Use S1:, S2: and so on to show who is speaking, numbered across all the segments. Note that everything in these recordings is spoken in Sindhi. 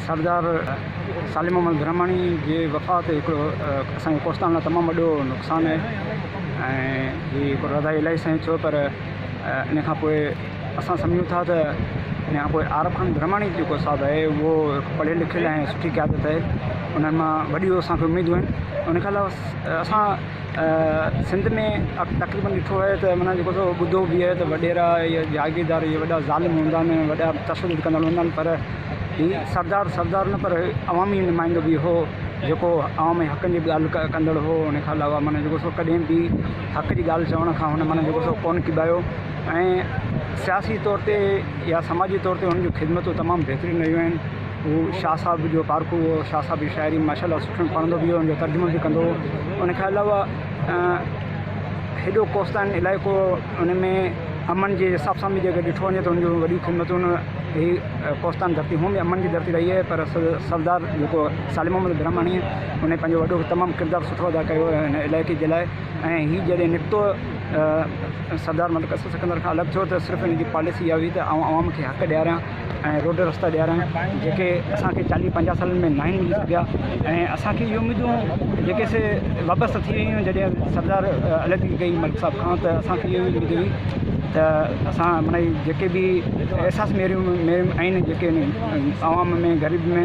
S1: سردار صالح محمد برهماڻي جي وفات هڪڙو اسان جي ڪوستان لاء تمام وڏو نقصان آهي ۽ هي هڪڙو رضاء الاهي سان ئي ٿيو پر ان کان پوء اسان سمجهون ٿا ته ان کان پوء عارب خان برهماڻي جيڪو صاحب آهي اهو هڪ پڙهيل لکيل ۽ سٺي قيادت آهي انهن مان وڏيون اسان کي اميدون آهن ان کان علاوه اسان سنڌ ۾ تقريبن ڏٺو ويو ته معنيٰ جيڪو سو ٻڌو به آهي ته وڏيرا يا جاگيردار اهي وڏا ظالم هوندا آهن ۽ وڏا تشدد ڪندڙ هوندا آهن پر هي سردار سردار نه پر عوامي نمائندو به هو جيڪو عوام جي حقن جي ڳالهه ڪا ڪندڙ هو ان کان علاوه معنيٰ جيڪو سو ڪڏهن به حق جي ڳالهه چوڻ کان هن معنيٰ جيڪو سو ڪونه ڪٻايو ۽ سياسي طور تي يا سماجي طور تي هن جون خدمتون تمام بهترين رهيون آهن هو شاهه صاحب جو پارکو هو، شاهه صاحب جي شاعري ماشاء الله سٺو پڙهندو به هو، ان جو ترجمو به ڪندو هو، ان کان علاوه هيڏو ڪوستان علائقو ان ۾ امن جي حساب سان به جيڪڏهن ڏٺو وڃي ته ان جون وڏيون خدمتون هي ڪوستان ڌرتي هونئن به امن جي ڌرتي رهي آهي پر سردار جيڪو صالح محمد برهماڻيء ان پنهنجو وڏو تمام ڪردار سٺو ادا ڪيو هو ان علائقي جي لاء ۽ هي جڏهن نڪتو سردار ملڪ اسد سڪندر کان الڳ ٿيو ته صرف ان جي پاليسي اها هئي ته آئون عوام کي حق ڏياريان ۽ روڊ رستا ڏيارڻ جيڪي اسان کي چاليهه پنجاهه سالن ۾ ناهن ملي سگهيا ۽ اسان کي اهي اميدون جيڪي سي وابسته ٿي ويون جڏهن سردار عليحدگي ڪئي ملڪ صاحب کان ته اسان کي اهي اميد هئي ته اسان معني جيڪي به احساس ميرون ميرون آهن جيڪي عوام ۾ غريب ۾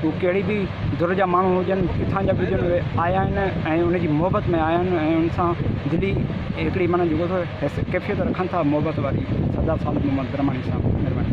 S1: هو ڪهڙي به ڌر جا ماڻهو هجن، ڪٿان جا به هجن اهي آيا آهن ۽ ان جي محبت ۾ آيا آهن ۽ ان سان دلي هڪڙي معنيٰ جيڪو اٿو ڪيفيت رکن ٿا محبت واري سدا سالم محمد برهماڻي صاحب مهرباني.